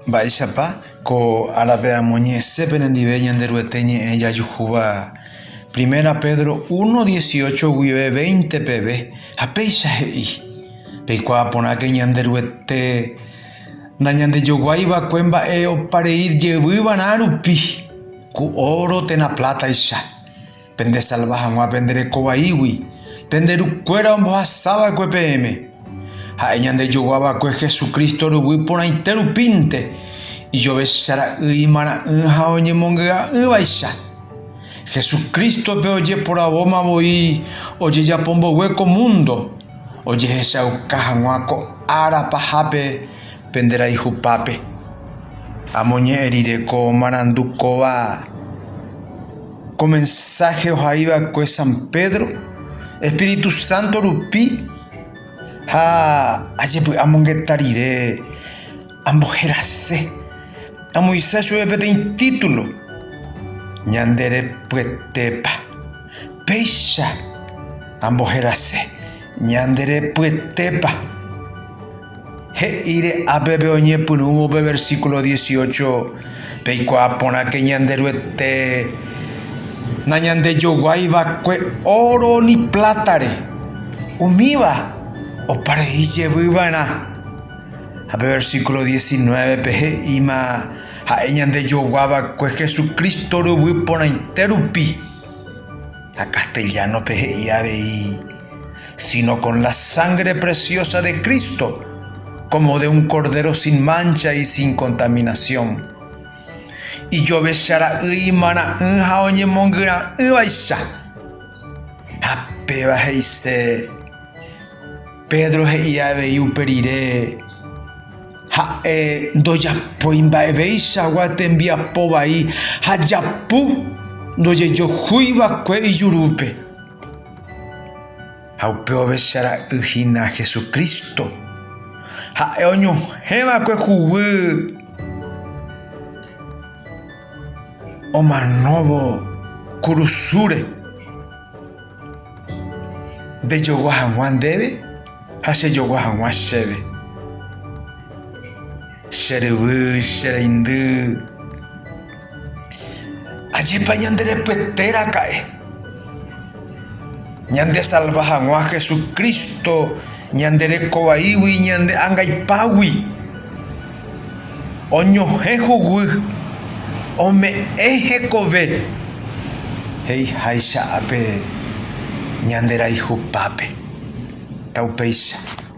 Mba'éichapa ko árape amoñe'ẽse penendive Ñanderuete ñe'ẽ jajuhúva Primera Pedro uno dieciocho guive veinte peve, ha péicha he'i, Peikuaa porãke Ñanderuete nañandejoguái va'ekue mba'e opa rei jeyvy va'erã rupi, ku óro térã plátaicha. Pendesalva hag̃ua pende reko vaígui, pende rukuéra ombohasa va'ekue peẽme. Ha'e ñandejogua va'ekue Jesucristo ruguy porãite rupínte, ijovecha ra'y, imarã'ỹ ha oñemongy'a'ỹvaicha. Jesucristo-pe ojeporavóma voi ojejapo mboyve ko múndo, ojehechauka hag̃ua ko ára pahápe pende rayhupápe. Amoñe'ẽ rire ko marandu kóva. Ko mensáhe ohai va'ekue San Pedro espíritu sánto rupi ha ajepy'amongeta rire amboherase. Amoĩsa chupe peteĩ título, Ñanderepyetépa. Péicha amboherase, Ñanderepyetépa. He'íre ápepe oñepyrũvo pe versíkulo dieciocho, Peikuaa porãke Ñanderuete nañandejoguái va'ekue óro ni plátare, umíva opa rei jevy va'erã. Ha pe versíkulo diecinuévepe he'íma ha'e ñandejogua va'ekue Jesucristo ryvy porãite rupi. Ha castellano-pe he'i avei, Sino con la sangre preciosa de Cristo, como de un cordero sin mancha y sin contaminación. Ijovecha ra'y imarã'ỹ ha oñemongyra'ỹvaicha. Ha péva he'ise. Pedro he'i avei upe rire, Ha'e ndojapói mba'eveichagua tembiapo vai ha japu ndojejohúi va'ekue ijurúpe. Ha upe ovecha ra'y hína Jesucristo, ha'e oñohẽ va'ekue huguy omanóvo kurusúre. Ndejogua hag̃ua ndéve ha chejogua hag̃ua chéve. Che ryvy, che reindy, ajépa ñande repyete raka'e, ñande salva hag̃ua Jesucristo ñande reko vaígui ñande angaipágui. oñohẽ huguy ome'ẽ hekove he'iháicha ape ñanderayhupápe. Taupéicha.